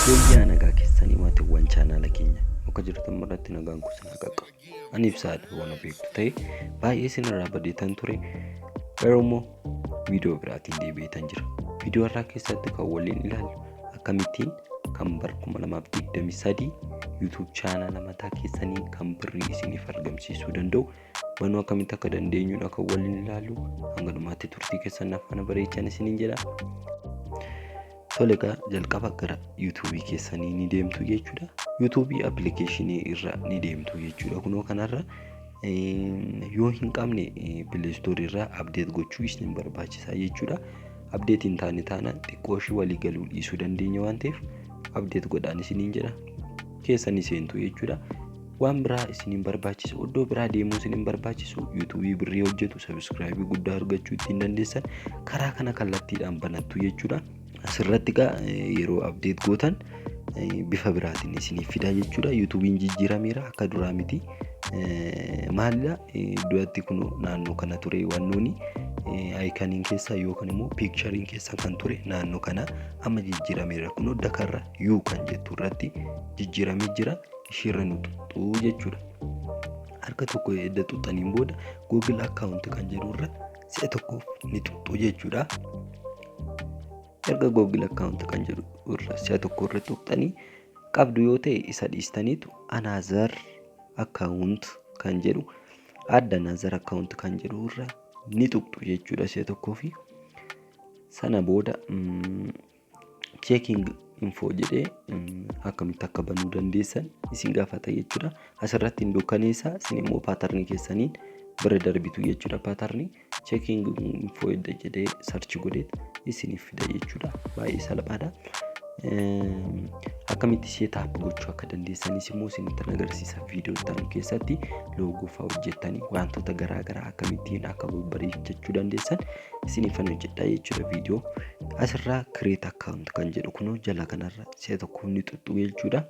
Guyyaa nagaa keessanii maatiiwwan chaanaala keenya bakka jirtan irratti nagaan kun isin haa qaqqabu. Ani ibsaadha waan beektu ta'e baay'ee isin irraa badeetan ture garuu immoo viidiyoo biraatiin deebi'eetan jira. Viidiyoo irraa keessatti kan waliin ilaallu akkamittiin kan bara 2023 YouTube chaanaala mataa keessanii kan birrii isiniif argamsiisuu danda'u banuu akkamitti akka dandeenyudha kan waliin ilaallu hanga dhumaatti turtii keessan na faana bareechan isiniin jedha. Tole egaa jalqaba gara yuutuubii keessanii ni deemtu jechuudha. Yuutuubii appilikeeshinii irra ni deemtu jechuudha. Kunoo kanarra yoo hin qabne pileestoorii irraa abdeet gochuu isin barbaachisa jechuudha. Abdeet hin taane taana xiqqoo ishii walii galuu dhiisuu dandeenya waan ta'eef abdeet godhaan isiniin jedha. Keessanii seentu jechuudha. waan biraa isin hin barbaachisu iddoo biraa deemuu isin hin barbaachisu yuutuubii birrii hojjetu sabiskiraayibii guddaa argachuu ittiin dandeessan karaa kana kallattiidhaan banattu jechuudha asirratti egaa yeroo abdeet gootan bifa biraatiin isiniif fidaa jechuudha yuutuubiin jijjiirameera akka duraa miti maalidha duratti kun naannoo kana ture wannooni ayikaniin keessa yookaan immoo piikchariin keessa kan ture naannoo kana amma jijjiirameera kun dakarra yuu kan jettu irratti jijjiiramee jira ishiirra nu tuqxu jechuudha. Harka tokko edda tuqxaniin booda Google account kan jedhu irra si'a tokkoof ni tuqxu jechuudha. Erga Google account kan jedhu irra si'a tokko irra tuqxanii qabdu yoo ta'e isa dhiistaniitu another account kan jedhu adda another account kan jedhu irra ni tuqxu jechuudha si'a tokkoo fi sana booda mm, checking info jedhee akkamitti akka banuu dandeessan isin gaafata jechuudha. Asirratti hin dukkaneessa isin immoo paatarnii keessaniin bira darbitu jechuudha. Paatarnii checking info edda jedhee sarchi godheet isiniif fida jechuudha. Baay'ee salphaadha. Akkamitti seetaap gochuu akka dandeessanis immoo isinitti agarsiisa viidiyoo itti keessatti loogoo fa'aa hojjettanii wantoota garaagaraa akkamittiin akka bareechachuu dandeessan isinifan hojjedha jechuudha viidiyoo asirraa create account kan jedhu kunoo jala kanarra si'a tokko ni xuxxu jechuudha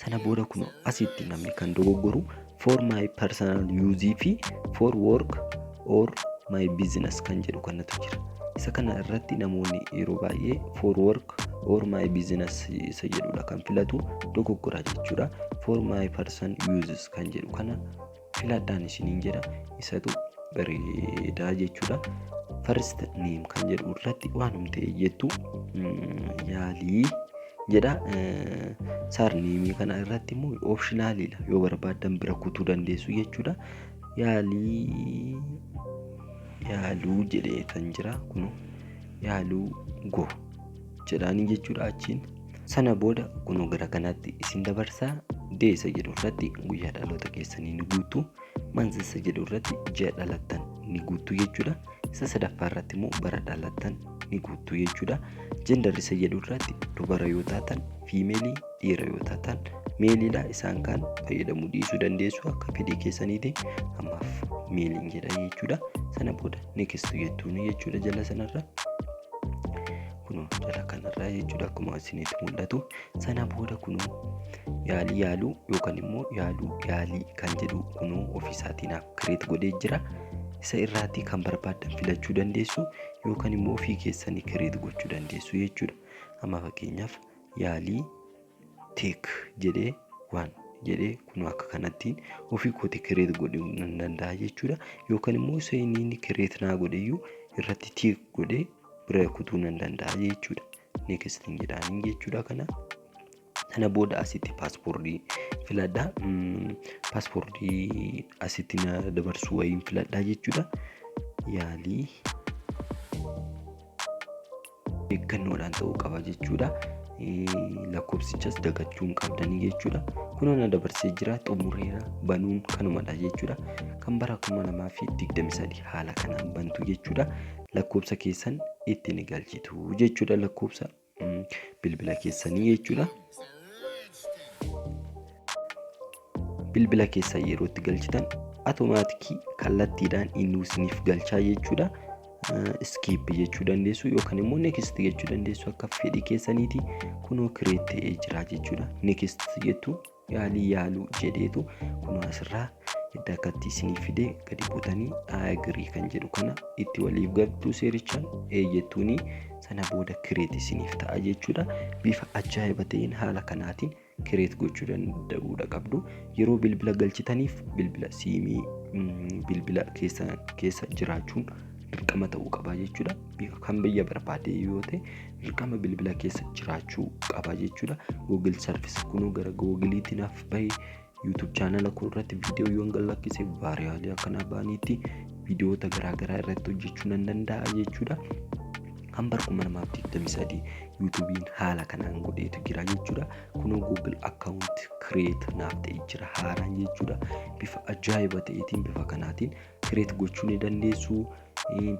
sana booda kun asitti namni kan dogoggoru for my personal use fi for work or my business kan jedhu kanatu jira isa kana irratti namoonni yeroo baay'ee for work or my business isa jedhudha kan filatu dogoggora jechuudha for my person uses kan jedhu kana filadhaan isiniin jedha isatu bareedaa jechuudha first name kan jedhu irratti waan humtee jettu yaalii jedha sarneemii kana irratti immoo opshinaaliidha yoo barbaaddan bira kutuu dandeessu jechuudha yaalii yaaluu jedhee kan jira kun yaaluu go jedhaanii jechuudha achiin Sana booda kunoo gara kanaatti isin dabarsaa deessa jedhu irratti guyyaa dhaloota keessanii ni guuttu manzissa jedhu irratti ji'a dhalattan ni guuttu jechuudha isa sadaffaa irratti immoo bara dhalattan ni guuttu jechuudha jendarrisa jedhu irratti dubara yoo taatan fiimeelii dhiira yoo taatan meeliidha isaan kaan fayyadamuu dhiisuu dandeessu akka fedhii keessaniiti ammaaf meeliin jedha jechuudha sana booda ni kistu jettuuni jechuudha jala sanarra kunoo jala kanarraa jechuudha akkuma isinitti mul'atu sana booda kunoo yaalii yaaluu yookaan immoo yaaluu yaalii kan jedhu kunoo ofiisaatiin kireet godhee jira isa irraatti kan barbaaddan filachuu dandeessu yookaan immoo ofii keessanii kireet gochuu dandeessu jechuudha amma fakkeenyaaf yaalii teek jedhee waan jedhee kun akka kanattiin ofii kooti kireet godhuu nan danda'a jechuudha yookaan immoo isa inni inni kireet naa godheyyuu irratti tiik godhee bira kutuu nan danda'a jechuudha. Next hin jedhaaniin jechuudha kana. Sana booda asitti paaspoortii filadha. Paaspoortii asitti na dabarsuu wayiin filadha jechuudha. Yaalii eeggannoodhaan ta'uu qaba jechuudha. Lakkoofsichas dagachuu hin qabdanii jechuudha. Kunoo na dabarsee jira xumureera banuun kanumadha jechuudha. Kan bara kuma lamaa fi digdami sadii haala kanaan bantu jechuudha. lakkoobsa keessan itti ni galchitu jechuudha lakkoobsa bilbila keessanii jechuudha. Bilbila keessa yeroo itti galchitan atomaatikii kallattiidhaan inni isiniif galchaa jechuudha. Skip jechuu dandeessu yookaan immoo next jechuu dandeessu akka fedhii keessaniiti kunoo kireettee jira jechuudha. Next jettu yaalii yaaluu jedheetu kunoo asirraa edda akkatti isinii fidee gadi buutanii aagrii kan jedhu kana itti waliif galtuu seerichaan eeyyettuunii sana booda kireet isiniif ta'a jechuudha bifa ajaa'iba ta'een haala kanaatiin kireet gochuu danda'uudha qabdu yeroo bilbila galchitaniif bilbila siimii bilbila keessa jiraachuun dirqama ta'uu qabaa jechuudha. Kan biyya barbaade yoo ta'e dirqama bilbila keessa jiraachuu qabaa jechuudha. Google Service kunuu gara Googleetti naaf bahe YouTube chaanala koo irratti viidiyoo yoon gallakkise vaariyaalii akkanaa ba'aniitti viidiyoota garaagaraa irratti hojjechuu nan danda'a jechuudha. Kan bara 2023 yuutuubiin haala kanaan godheetu jira jechuudha. Kunuu Google Account Create naaf ta'e jira haaraan jechuudha. Bifa ajaa'iba ta'eetiin bifa kanaatiin kireet gochuu ni dandeessu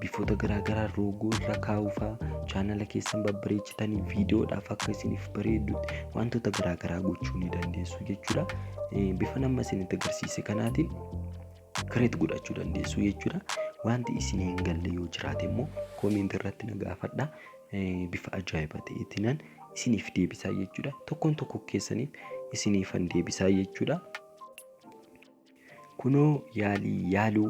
bifoota garaagaraa roogoo irra kaa'uufa chaanala keessan babbareechitanii viidiyoodhaaf akka isiniif bareedutti wantoota garaagaraa gochuu ni dandeessu jechuudha bifa nama isinitti agarsiise kanaatiin kireet godhachuu dandeessu jechuudha wanti isin hin galle yoo jiraate immoo koomeenti irratti na gaafadha bifa ajaa'iba ta'eetinan isiniif deebisaa jechuudha tokkoon tokko keessaniif isiniifan deebisaa jechuudha Kunoo yaalii yaaluu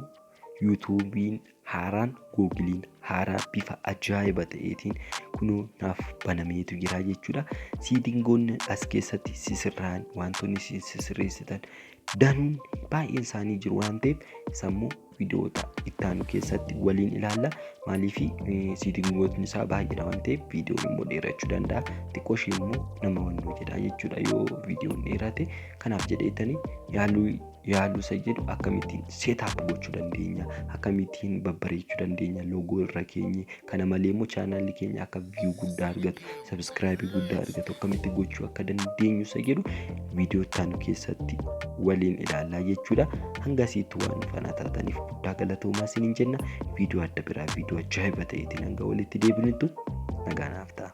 yuutuubiin haaraan googiliin haaraa bifa ajaa'iba ta'eetiin kunoo naaf banameetu jira jechuudha. Siitingoonni as keessatti sisirraan wantoonni isin sisirreessitan danuun baay'een isaanii jiru waan ta'eef sammuu viidiyoota ittaanu keessatti waliin ilaalla maaliif siitingootni isaa baay'eedha waan ta'eef viidiyoon immoo dheerachuu danda'a xiqqoo ishee immoo nama wannoo jedha jechuudha yoo viidiyoon dheerate kanaaf jedheetanii yaaluu yaaluu isa jedhu akkamittiin seetaap gochuu dandeenya akkamittiin babbareechuu dandeenya loogoo irra keenye Kana malee immoo chaanaalli keenya akka viyuu guddaa argatu, sabiskiraayibii guddaa argatu akkamitti gochuu akka dandeenyu isa jedhu viidiyoo ittaanu keessatti waliin ilaallaa jechuudha. Hanga asiitti waan faana taataniif guddaa galatoomaa isiniin jenna. Viidiyoo adda biraa viidiyoo ajaa'iba ta'eetiin hanga walitti deebinutti nagaa naaf ta'a.